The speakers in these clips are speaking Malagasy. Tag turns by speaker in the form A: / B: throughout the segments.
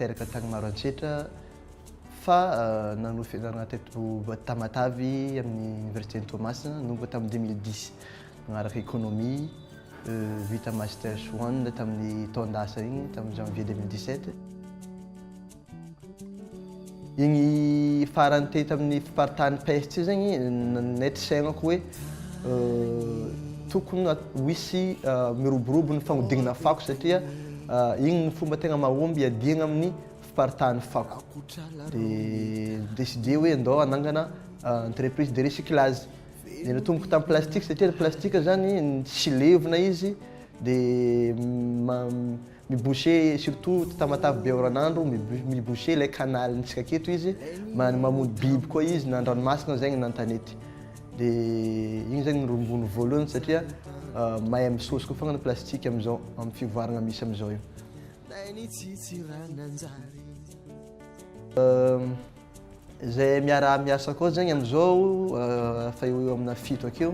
A: teraka tany Maroantsetra fa euh, nanao fianarana teto Tamatavy amin'ny université Toamasina nomba tamin'ny 2010 nanaraka économie euh, vita master one tamin'ny taon-dasa iny tamin'ny janvier 2017 Igny farany teo tamin'ny fiparitahan'ny peste io zegny nanaiky saignako hoe tokony ho hisy miroborobo ny fagnodinana fako satria igny no fomba tegna mahomby hiadiagna amin'ny fiparitahan'ny fako. Dia ni-decider hoe ndao hanangana entreprise de recyclage. Dia natomboko tamin'ny plastika satria ny plastika zany tsy levona izy dia ma- Miboucher surtout Tamatave be oran'andro miboucher ilay canal ny tsika aketo izy mamono biby koa izy na andranomasina aza na antanety de igny zany no rongony voalohany satria mahay misôsy koa fogna ny plastique amizao am fivoaragna misy amizao io. Zay miaraha miasa koa zegny amizao efa eo ho eo amina fito akeo.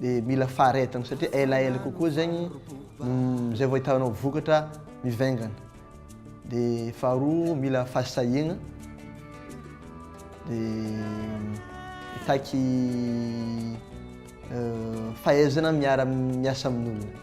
A: dia mila faharetana satria elaela kokoa zegny mm, zay vao ahitanao vokatra mivaingana. Dia faharoa mila fahasahiagna dia mitaky euh, fahaizana miara miasa amin'olona.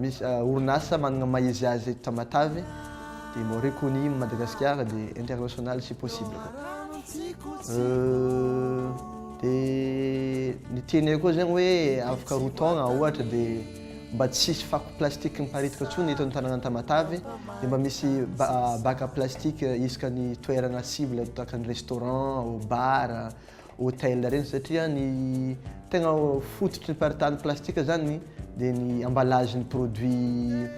A: Misy orinasa manana maha izy azy eto Tamatave dia Maurice Kony Madagasikara dia international si possible dia ny teny koa zegny hoe afaka roa taogna ohatra dia mba tsisy fako plastique miparitaka intsony eto amin'ny tanàna Tamatave dia mba misy baka plastique isaka ny toerana cible tahaka ny restaurant, bar. hotel ireny satria ny tegna fototry ny faritany plastika zany dia ny emballage ny produit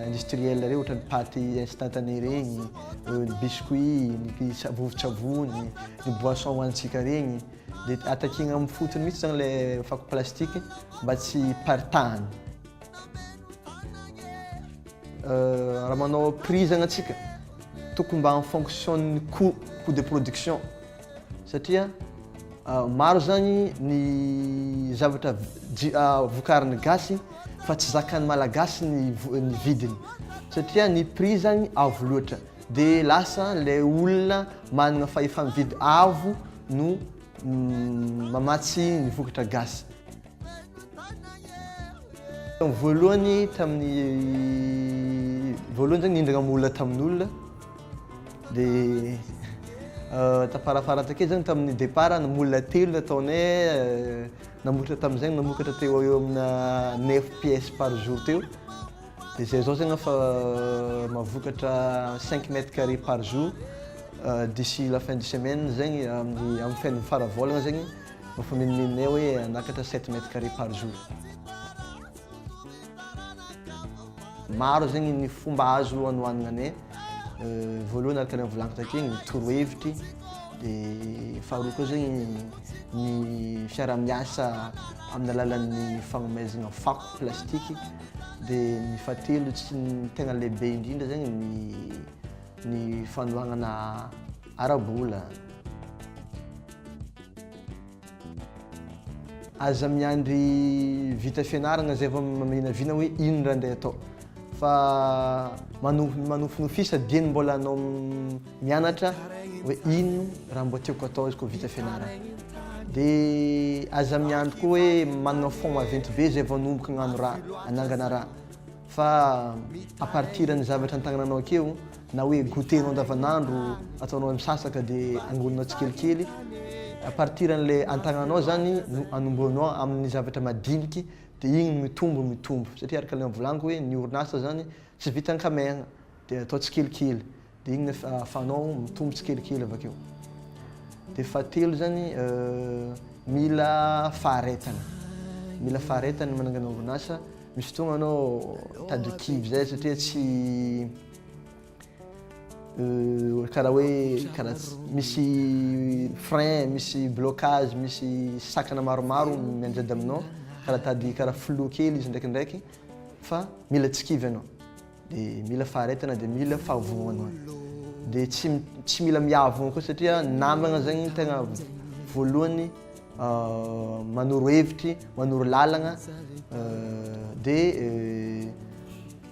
A: industriel ireny ohatra ny paty instantané regny, ny biscuit, ny sa- vovon-tsavony, ny boisson hohanintsika regny dia atakigna amin'ny fotony mihitsy zany ilay fako plastika mba tsy hiparitahana. Raha manao prix zany antsika tokony mba en fonction-n'ny coût, coût de production. satria maro zany ny zavatra vokarin'ny gasy fa tsy zakan'ny malagasy ny ny vidiny satria ny prix zany avo loatra de lasa le olona manana fahefa-mividy avo no mamatsy ny vokatra gasy Voalohany tamin'ny voalohany zany nihindrana am olona tamin' olona de tafarafara takeo zany tamin'ny depart am olona telo nataonay namokatra tamin'izay namokatra teo eo amina neuf pièces par jour teo de zay zao zany efa mavokatra cinq mètres carré par jour d'ici la fin de semaine zegny amin'ny amin'ny feniny fara volana zegny Nofamimimine hoe hanakatra sept mètres carrés par jour. Maro zegny ny fomba azo hanohanana ne, voalohany araka ny efa volagniko takeo ny torohevitry, dia faharoa koa zegny ny fiaraha-miasa amin'ny alalan'ny fagnomezana fako plastiky, dia ny fahatelo tsy ny tegna lehibe indrindra zegny ny ny fanohagnana ara-bola. Aza miandry vita fianaragna zay vao maminavina hoe ino raha ndeha atao fa manofinofisa dieny mbola anao mianatra hoe ino raha mba tiako atao izy koa vita fianaragna de aza miandry koa hoe managna fonds maventy be zay vao anomboka agnano raha anangana raha fa à partir ny zavatra an-tagnananao akeo na hoe goûter nao andavanandro ataonao hoe misasaka de angoninao tsikelikely à partir an'ilay antagnanao zany no anombohanao amin'ny zavatra madiniky de igny mitombo mitombo satria araka le volagniky hoe ny orinasa zany tsy vita an-kamehagna de atao tsikelikely de igny no afahanao mitombo tsikelikely avakeo de fahatelo zany mila faharetana mila faharetana ny manangana orinasa misy fotoagna anao mitady ho kivy zay satria tsy Euh, karaha hoe karaha misy frein misy blocage misy sakana maromaro mianjady aminao karaha tady karaha flou kely izy ndraikindraiky fa mila tsy kivy ianao dia mila faharetana dia mila fahavoana dia tsy tsy mila miavoana koa satria namagna zegny tegna voalohany euh, manoro hevitry manoro lalagna euh, dia